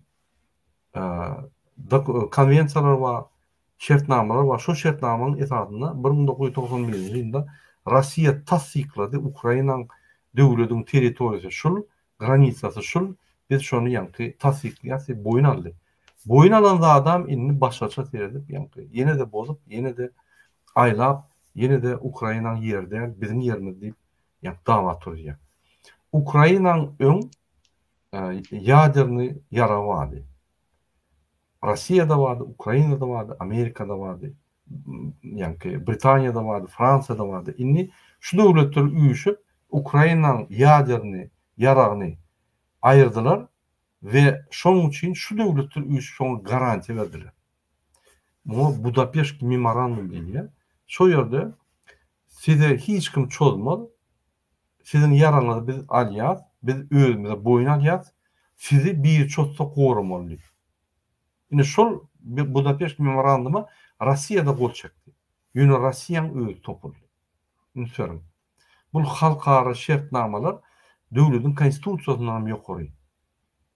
A: konwensiýalar bar, Şertnamalar bar. Şol şertnamanyň esasynda bir müň dokuz ýüz togsan birinji ýylda Rossiýa tassyklady, Ukrainaň döwlediň territoriýasy şul, granisasy şul, biz şony ýaňky tassyklaýas diýip boýun aldy. Boýun alan zadam indi başgaça seredip ýaňky ýene-de bozup, ýene-de aýlap, ýene-de Ukrainaň ýeri däl, biziň ýerimiz diýip ýaňky dawa turuzýar. Ukrainaň öň ýaderny ýaragy bardy. Rossiýada bardy, Ukrainada bardy, Amerikada bardy, ýaňky Britaniýada bardy, Fransiýada bardy. Indi şu döwletler üýşüp, Ukrainanyň ýaderny ýaragyny aýyrdylar we şonuň üçin şu döwletler üýşüp şoňa garantiýa berdiler. Muňa Budapeşt memorandum diýilýär. Şo ýerde size hiç kim çozmaz, Siziň ýaraňyzy biz alýas, biz özümize boýun alýas, sizi bir çotda goramaly diýip. Indi şol Budapeşt memorandyma Rossiýa-da gol çekdi. Ýöne Rossiýaň özi topuldy. Üns beriň. Bu halkara şertnamalar döwletiň konstitusiýasyndanam ýokary.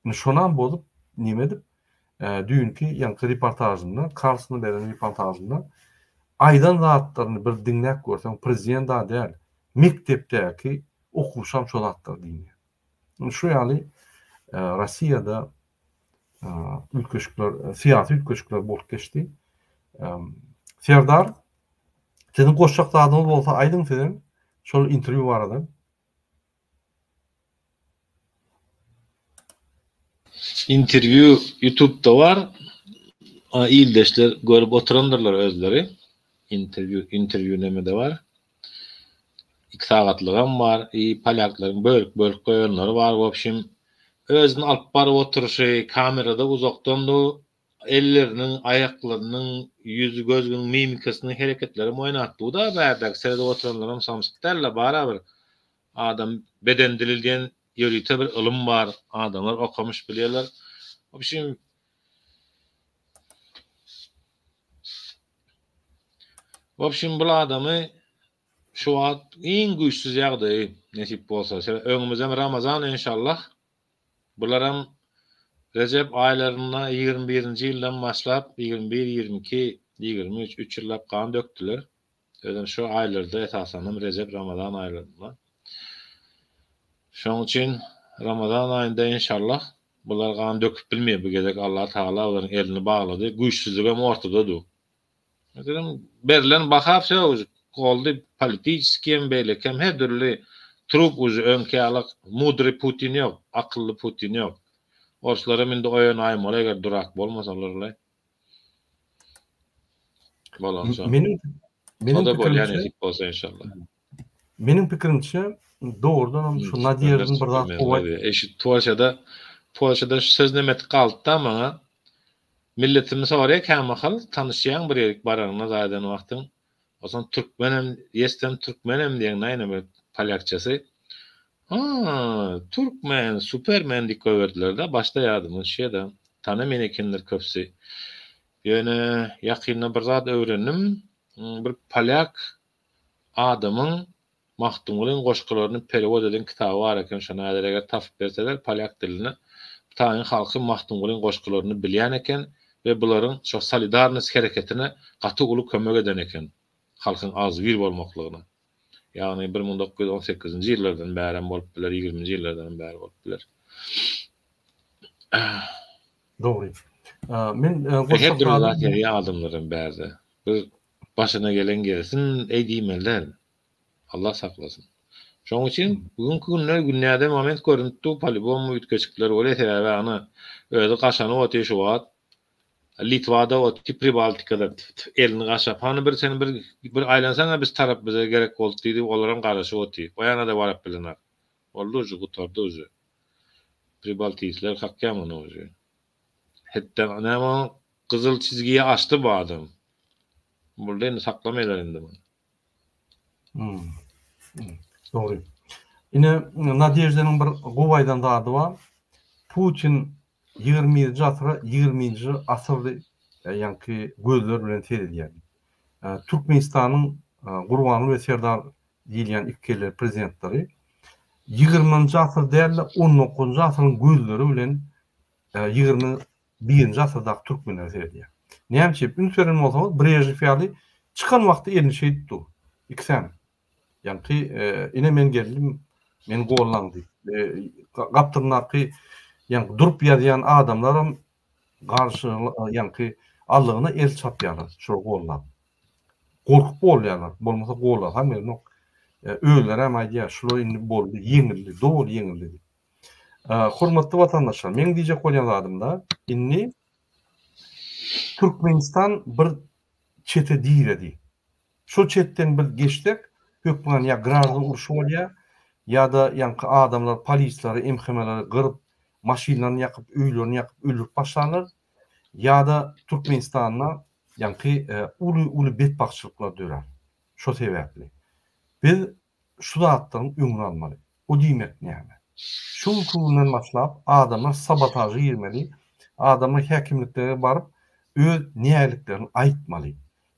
A: Indi şonam bozup, neme edip, düýnki, ýaňky reportažynda, Karlsona beren reportažynda aýdan zatlaryny bir diňläp görseň, prezident-a däl, mekdepdäki okuwçam şo zatlary diýýär. Indi şu ýaly Russiýada üýtgeşikler, syýasy üýtgeşikler bolup geçdi. Serdar, siziň goşjak zadyňyz bolsa aýdyň sizem şol interwýu barada.
B: Interview youtubda bar. Ildeşler görüp oturandyrlar özleri. Interview interview nemede bar. Iki sagatlygam bar. I polýaklaryň bölüp bölüp goýanlary bar. Wobşim özüni alyp baryp oturyşy kamerada uzakdan du Elleriniň, aýaklarynyň, ýüz, gözüniň mimikasynyň hereketlerem oýnatdygy-da bärdäki seredip oturanlaram samsyk däldi-de, barabir adam beden dili diýen ýörite bir ylym bar, adamlar okamyş bilýärler. W opşim, W opşim bul adamy şu wagt iň güýçsüz ýagdaýy nesip bolsa, sebäbi öňümizem Ramazan enşallah. Bularam Rejep aýlarynda ýigrimi birinji ýyldan başlap, ýigrimi bir, ýigrimi iki, ýigrimi üç, üç ýyllap gan dökdüler. Özem şu aýlarda esasanam Rejep, Ramazan aýlarynda. Şonuň üçin Ramazan aýynda inşallah bular gan döküp bilmeýär bu gezek Allatagala olaryň elini baglady, güýçsüzligem ortada dur. Meselem, berlen baha söz, goldy politiskiýem, beýlekem her dürli trup uži öňki ýaly mudry Putin ýok, akylly Putin ýok. Orslaram indi oýan aýmaly eger durak bolmasalar bile. Bolansoň. Meniň meniň pikirimçe. Ýa nesip bolsa inşallah. Meniň
A: pikirimçe dogrudan hem şu Nadýeždin bir zat gowy aýt. Eşit Polşada
B: Polşadan şu söz nemetik galdyda maňa milletimi soraýa kämahal tanyşýaň bir ýerik baraňda zaýadan wagtyň oson türkmen hem ýesem türkmen hem diýeň naýne bir polýakçasy ha türkmen supermen diýip goýberdilerde başda ýadymdan şeda tanamen ekenler köpsi ýöne ýakynda bir zat öwrendim bir polýak adamyň Magtymgulyň goşgularyny perewod eden kitaby bar eken şony häzir eger tapyp berseler polýak dilinde taýyn halky Magtymgulyň goşgularyny bilýän eken we bularyň şo solidarnost hereketine gaty uly kömek eden eken halkyň agzybir bolmaklygyna ýagny bir müň dokuz ýüz on sekizinji ýyllardan bärem bolup biler ýigriminji ýyllardanam bäri bolup biler.
A: Dogry. Men goşmak lazym. Her dürli zat
B: ýazýan adamlaram bärde. Bir Başyna gelen gelsin eý diýmelidir. Allah saklasyn. Şoň üçin bu günki günde günäde moment görünip dur polibom üýtgeşikler bolýar sebäbi ana özi gaşanyp otyr şu wagt Litwada otyr pribaltikada elini gaşap hany bir sen bir bir aýlansana biz tarap bize gerek boldy diýdi olaram garaşyp otyr o ýanada baryp bilenok boldy uje gutardy uje pribaltisler kakýa muny uje. Hetda näme gyzyl çizgiyi açdy bu adam. Boldy indi saklamaýlar indi muny. Hmm. hmm
A: dogry. Ine Nadejdenin bir gowy aýdan zady bar. Putin 20-nji asyra 20-nji asyrdy e, ýaňky gözler bilen seredýär. E, Türkmenistanyň e, Gurbanly we Serdar Diýilýän iki kelle prezidentleri ýigirmenji asyr däl-de, on dokuzynjy asyryň gözleri bilen ýigrimi birinji asyrdaky türkmenlere seredýär. Näme üçin? Üns beren bolsaňyz, Brežnew ýaly çykan wagty elini şeýdip dur. Ikisem. Ýaňky ine men geldim, meni gollaň diýip. Gapdalyndaky ýaňky durup ýazýan adamlaram garşylygyna, ýaňky aldygyna el çapýarlar, şol gollap. Gorkup golýarlar, bolmasa gollasam gelenok. Özlerem aýdýar, şular indi boldy, ýeňildi, doly ýeňildi diýip. Hormatly watandaşlar, meň diýjek bolýan zadym-da, indi Türkmenistan bir çete diredi. Şol çetden biz geçsek, hökman ýa gražda urşy bolýar, ýa-da ýaňky adamlar polisleri, MHM-leri gyryp, maşynlaryny ýakyp, öýlerini ýakyp öldürip başlanlar, ýa-da Türkmenistanda ýaňky uly-uly betbagtçylyklar dörär. Şo sebäpli biz. şu zatlaryň öňüni almaly. O diýmek näme? Şu günki günden başlap adamlar sabotaža girmeli, adamlar häkimliklere baryp öz nägiliklerini aýtmaly.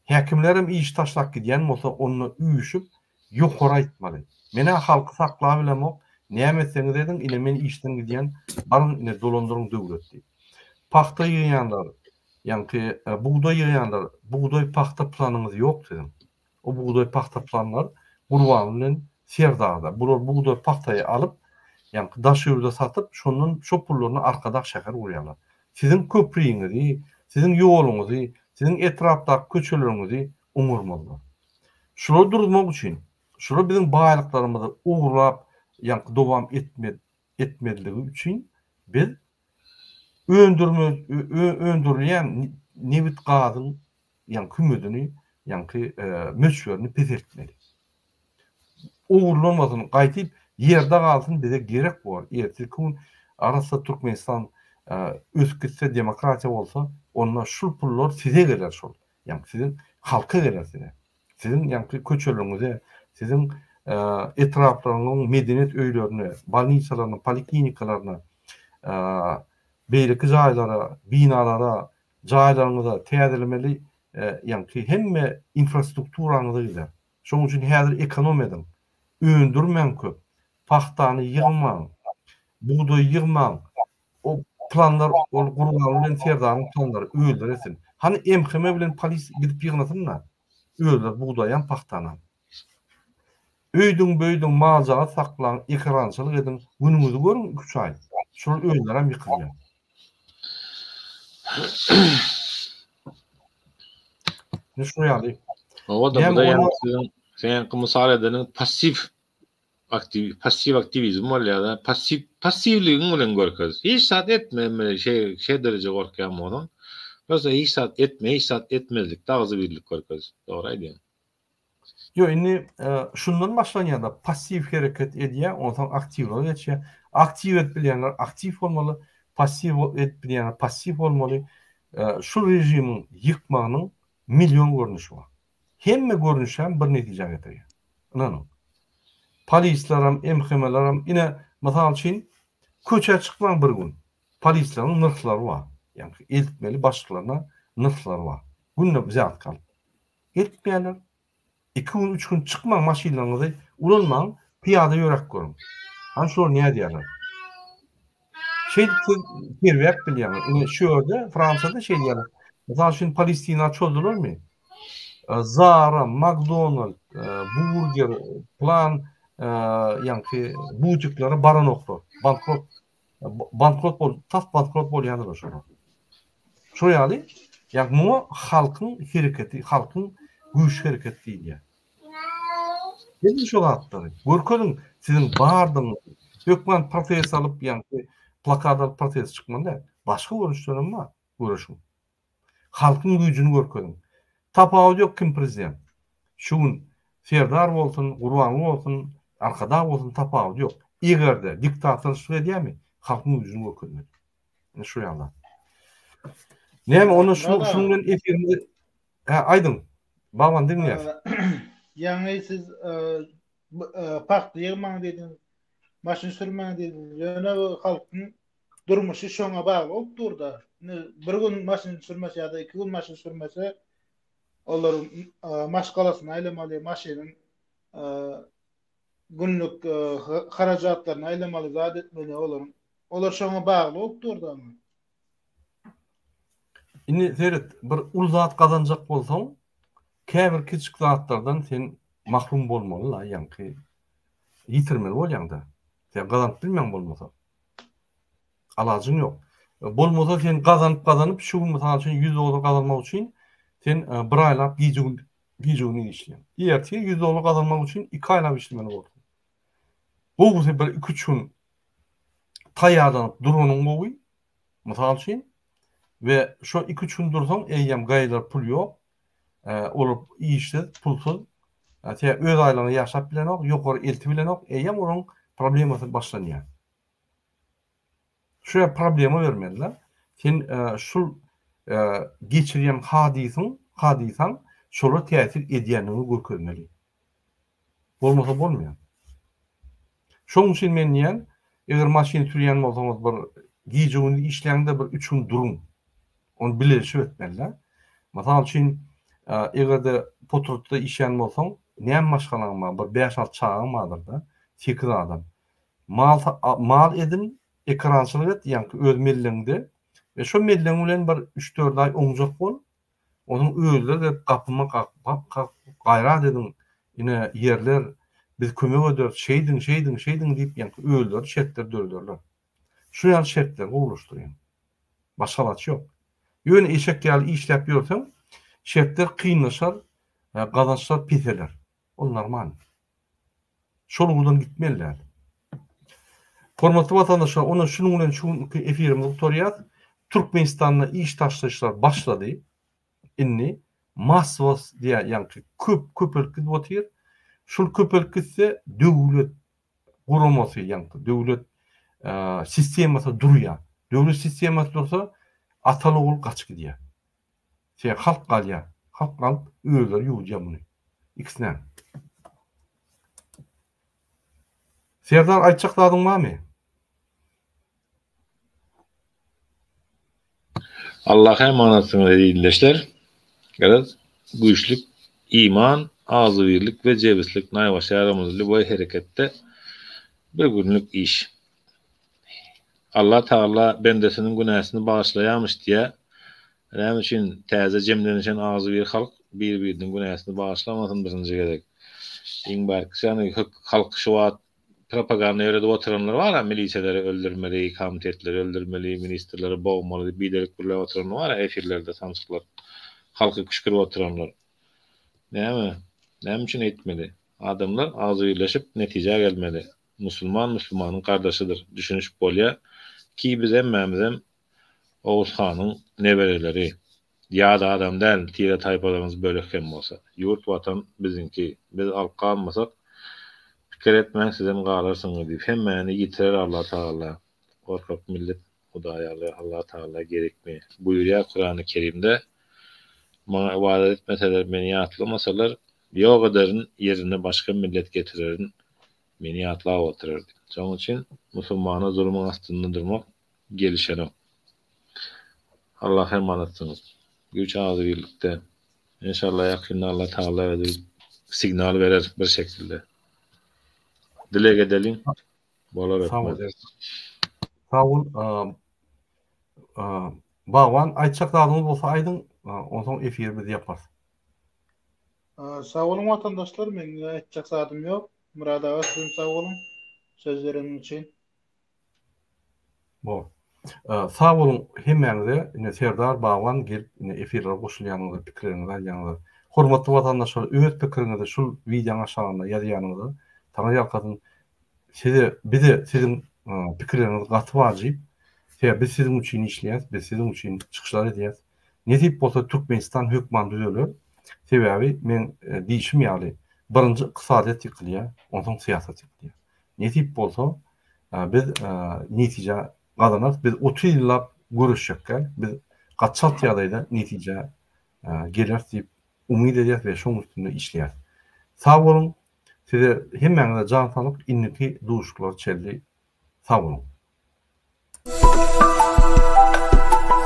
A: Häkimlerem işi taşlap gidýän bolsa onda üýşüp ýokary aýtmaly. Men-ä halky saklap bilemok, näme etseňiz ediň ine men işden gidýän, baryň ine dolandyryň döwlet diýip. Pagta ýygýanlar, ýaňky bugdaý ýygýanlar, bugdaý pagta planyňyz ýok siziň. O bugdaý pagta planlar Gurbanly bilen Serdagda. Bular bugdaý pagtaýy alyp, ýaňky Daşöwüde satyp, şondan şo pullaryna Arkadag şäher gurýarlar. Siziň köpriňizi, siziň ýoluňyzy, siziň etrapdaky köçeleriňizi oňarmazlar. Şulary duruzmak üçin, şular biziň baýlyklarymyzy ogurlap, ýaňky dowam etmez, etmezligi üçin biz öndürme, ö, öndürilýän nebit gazyň ýaňky kümedini, ýaňky möçberini peseltmeli. Ogurlanmasyn, gaýtyp ýerde galsyn, bize gerek bor, erteki gün arassa Türkmenistan ösüp gitse, demokratiýa bolsa, onda şul pullar size geler şol, ýaňky siziň halka geler size. Siziň ýaňky köçeleriňize, siziň etraplaryňyň medeniýet öýlerine, bolnisalaryna, poliklinikalaryna, beýleki jaýlara, binalara Jaýlaryňyza täzelemeli ýaňky hemme infrastrukturaňyza gider. Şoň üçin häzir ekonom ediň. Öndürmäň köp. Pagtany ýygmaň. Bugdaýy ýygmaň. O planlar ol Gurbanguly bilen Serdaryň planlary öldüresin. Hany MHM bilen polis gidip ýygnasynda. Özler bugdaýam, pagtanam. Öýdüň-böýdüň, mal-jagaz saklaň, ekerançylyk ediň, günüňizi görüň iki-üç aý. Şolar özlerem ýykylýar. Indi şuňa ýaly. Oba-da, bu-da
B: ýaňky siziň, seňki mysal edeniň passiw aktiw passiw aktiwizm bolýada passiw passiwligiň bilen görkez hiç zat etme emeli şeý şe dereje gorkýan bolsaň prosta hiç zat etme hiç zat etmezlikde agzybirlik görkez dogry aýdýaň. Ýok
A: indi şundan başlanýada passiw hereket edýä onsaň aktiwlige geçýä aktiw edip bilýänler aktiw bolmaly passiw edip bilýänler passiw bolmaly şu režimiň ýykmagynyň million görnüşi bar Hemme görnüşem bir netijä getirýär. Ynanyň. Polislerem, MHM-lerem, ine, mysal üçin, köçä çykmaň bir gün. Polisleriň nyrhlary bar. Ýaňky eltmeli başlyklaryna nyrhlary bar. Günde wzýatka alyp. Eltmeýärler. Iki gün, üç gün çykmaň, maşynlaryňyzy ulanmaň, pyýada ýöräp görüň. Hany şolar nädýärler? Şeýdip siz sergäp bilýäňiz. Indi şu ýerde Fransiýada şeýdýärler. Mysal üçin Palestina çozdularmy? Zara, McDonald, Burger, plan ýaňky butiklere baranoklar. Bankrot bankrot bol, tas bankrot bolýanlar şolar. Şu ýaly, ýa muňa halkyň hereketi, halkyň güýç hereketi diýilýär. Bilin şo zatlary. Görkeziň siziň bardygyňyzy. Hökman protest alyp ýa-da plakat alyp protest çykmaly däl. Başga görnüşler hem bar. Göreşiň. Halkyň güýjüni görkeziň. Tapawudy ýok kim prezident. Şu gün Serdar bolsun, Gurbanguly bolsun, Arkadag bolsun tapawudy ýok. Eger-de diktatorçylyk edýärmi, halkyň güýjüni görkezmeli. Ine şo ýaly zat. Näme onda şunuň bilen efirimizi Hä, aýdyň, babam diňleýär. Ýaňy
C: siz pagta ýygmaň diýdiňiz, maşyn sürmäň diýdiňiz. Ýöne halkyň durmuşy şoňa bagly bolup dur-da. Indi bir gün maşyn sürmese ýa-da iki gün maşyn sürmese, olar maşgalasyny aýlamaly, maşynyň günlük harajatlaryny aýlamaly, zat etmeli olaryň. Olar şoňa bagly bolup dur-da.
A: Indi seret, bir uly zat gazanjak bolsaň, käbir kiçijik zatlardan sen mahrum bolmaly-la, ýaňky ýitirmeli bolýaň-da. Sen gazanyp bilmeň bolmasa. Alajyň ýok. Bolmasa sen gazanyp-gazanyp, şu gün mysal üçin ýüz dollar gazanmak üçin sen e, bir aýlap gije-gündiz gije-gündiz işleýän. Ertir 100 dollar gazanmak üçin 2 aýlap işlemeli bolarsyň. Gowusy bir 2-3 gün taýýarlanyp duranyň gowy, mysal üçin, we şo iki-üç gün dursaň, eýýäm gaýylar pul ýok, olar işsiz, pulsuz, tä öz aýlygyna ýaşap bilenok, ýokary elti bilenok, eýýäm olaryň problemasy başlanýar. Şuýa problema bermeli-de, sen şul geçirýän hadysyň, hadysaň şola täsir edýändigini görkezmeli. Bolmasa bolmaýar. Şonuň üçin men diýýän, eger maşyn sürýän bolsaňyz bir gije-gündiz işläňde bir üç gün duruň. Ony bileleşip etmeli-de. Mysal üçin, eger-de potrutda işlän bolsaň, näme maşgalaň bar? Bir bäş-alty çagaň bardyr-da, sekiz adam. Mal mal edin, ekerançylyk et, ýaňky öz mellegiňde we şo mellegiň bilen bir üç-dört aý oňjak bol. Onuň özleri de gapyma gap kak gaýrat ediň ine ýerler biz kömek ederis şeýdiň şeýdiň şeýdiň diýip ýaňky özleri şertleri dörederler. Şu ýaly şertleri gowulaşdyryň. Başga alaç ýok. Ýöne eşek ýaly işläp ýörseň şertler kynlaşar gazançlar peseler. Ol normal. Şol ugurdan gitmeli däl. Hormatly watandaşlar, onda şunuň bilen şu günki efirimizi gutarýas. Türkmenistanda iş taşlaýyşlar başlady. Indi massowos diýýär, ýaňky köp köpelip gidip otyr. Şul köpelip gitse, döwlet guramasy, ýaňky döwlet sistemasy durýar. Döwlet sistemasy dursa, ataly ogul gaçyp gidýär. Seni halk alya. Halk alyp özleri ýuwudýa muny. Ikisinem. Serdar aýtjak zadyň barmy?
B: Allaha emanatsyňyz eziz ildeşler. Garaz, güýçlik, iman, agzybirlik we jebislik naýbaşy ýarymyz lýuboý hereketde bir günlük iş. Allah Tagala bendesiniň günäsini bagyşlaýarmyş diýýär. Näme üçin täze jemlenişen agzybir halk bir-biriniň günäsini bagyşlamasyn birinji gezek. Iň bärkisi ýagny halky şu wagt propaganda ýöredip oturanlar bar-a milisiýaleri öldürmeli, komitetleri öldürmeli, ministrleri bogmaly diýip biderek gürläp oturanlar bar-a efirlerde samsyklar halky küşkürip oturanlar. Näme? Näme üçin eýtmeli? Adamlar agzybirleşip netijä gelmeli. Musulman musulmanyň gardaşydyr düşünişip bolýa ki biz hemmämizem Oguz hanyň nebereleri ýat adam däl tire taýpalarymyz bölek hem bolsa. Ýurt watan biziňki biz halk galmasak pikir etmäň sizem galarsyňyz diýip hemmäni ýitirer Alla tagalla gorkak millet Hudaý ýaly Allah Tagala gerekmi? Buýurýar Kurany Kerimde, Maňa ybadat etmeseler, Meni ýatlamasalar, ýok ederin, ýerine başga millet getirerin, Meni ýatlap oturar diýip. Şonuň üçin musulmana zulumyň astynda durmak gelişenok. Allaha emanatsyňyz. Güýç agzybirlikde. Enşalla ýakynda Allah Tagala özi signal berer bir şekilde. Dileg edeliň. Bala rahmet.
A: Sag bol. Bagban aýtjak zadyňyz bolsa aýdyň, onsoň efiri biz ýaparys.
C: Sag boluň watandaşlar, meň aýtjak zadym ýok. Murad aga sizem sag boluň söz bereniň üçin. Bor.
A: Sag boluň hemmäňize ine Serdar Bagban gelip ine efirlere goşulýanyňyza pikirleriňizi aýdýanyňyza. Hormatly watandaşlar öz pikiriňizi şul wideoň aşagynda ýazýanyňyza Taňry ýalkasyn. Size bize siziň pikirleriňiz gaty wajyp. Sebäbi biz siziň üçin işleýäs, biz siziň üçin çykyşlar edýäs. Nesip bolsa Türkmenistan hökman düzeler. Sebäbi meň diýişim ýaly birinji ykdysadyýet ýykylýar, onsoň syýasat ýykylýar. Nesip bolsa, biz netije gazanarys. Biz otuz ýyllap göreşjekkä, biz gaçalt ýagdaýda netije geleris diýip umyt edýäris we şonuň üstünde işleýäris. Sag boluň! Size hemmäňize jan saglyk, indiki duşuşyklara çenli sag boluň!